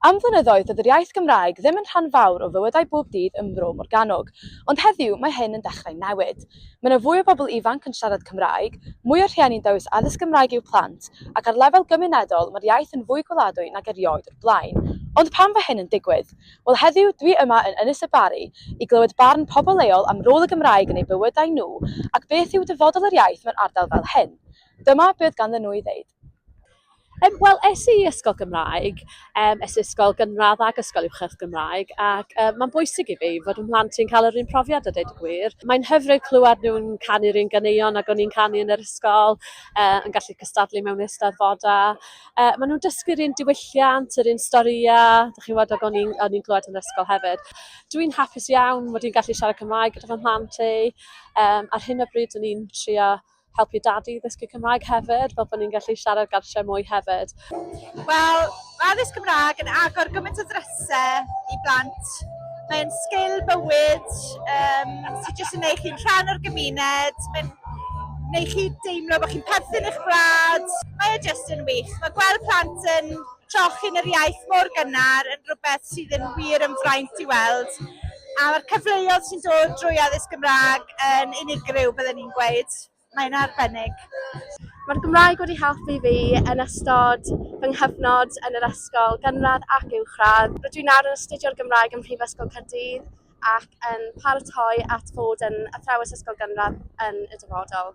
Am flynyddoedd doedd yr iaith Gymraeg ddim yn rhan fawr o fywydau bob dydd ym Mro Morgannwg, ond heddiw mae hyn yn dechrau newid. Mae 'na fwy o bobl ifanc yn siarad Cymraeg, mwy o rhieni'n dewis addysg Gymraeg i'w plant, ac ar lefel gymunedol mae'r iaith yn fwy gweladwy nag erioed o'r blaen. Ond pam fo hyn yn digwydd? Wel heddiw dwi yma yn Ynys y Barri i glywed barn pobl leol am rôl y Gymraeg yn eu bywydau nhw ac beth yw dyfodol yr iaith mewn ardal fel hyn. Dyma be oedd ganddyn nhw i ddeud. Yym wel es i i ysgol Gymraeg yym es i ysgol gynradd ac ysgol uwchradd Gymraeg ac yy ma'n bwysig i fi fod 'y mhlant i'n ca'l yr un profiad a deud y gwir. Mae'n hyfryd clywed nw'n canu'r un ganeuon ag o'n i'n canu yn yr ysgol yy yn gallu cystadlu mewn eisteddfoda yy ma' nw'n dysgu'r un diwylliant yr un storïa dych chi'n w'od ag o'n i'n o'n i'n clywed yn yr ysgol hefyd. Dw i'n hapus iawn mod i'n gallu siarad Cymraeg gyda fy mhlant i yym ar hyn o bryd o'n i'n trio helpu dad i ddysgu Cymraeg hefyd, fel bod ni'n gallu siarad gartref mwy hefyd. Wel, mae addysg Cymraeg yn agor gymaint o ddrysau i blant. Mae'n sgil bywyd um, sy'n jyst yn eich chi'n rhan o'r gymuned, mae'n neu chi deimlo bod chi'n perthyn eich wlad. Mae e jyst yn wych. Mae gweld plant yn Trochyn yr iaith mor gynnar yn rhywbeth sydd yn wir yn fraint i weld, a ma'r cyfleodd sy'n dod drwy addysg Gymraeg yn unigryw bydden i'n gweud. Mae'n arbennig. Mae'r Gymraeg wedi helpu fi yn ystod fy nghyfnod yn yr ysgol gynradd ac uwchradd. Rydw i nawr yn astudio'r Gymraeg ym Mhrifysgol Caerdydd ac yn paratoi at fod yn athrawes ysgol gynradd yn y dyfodol.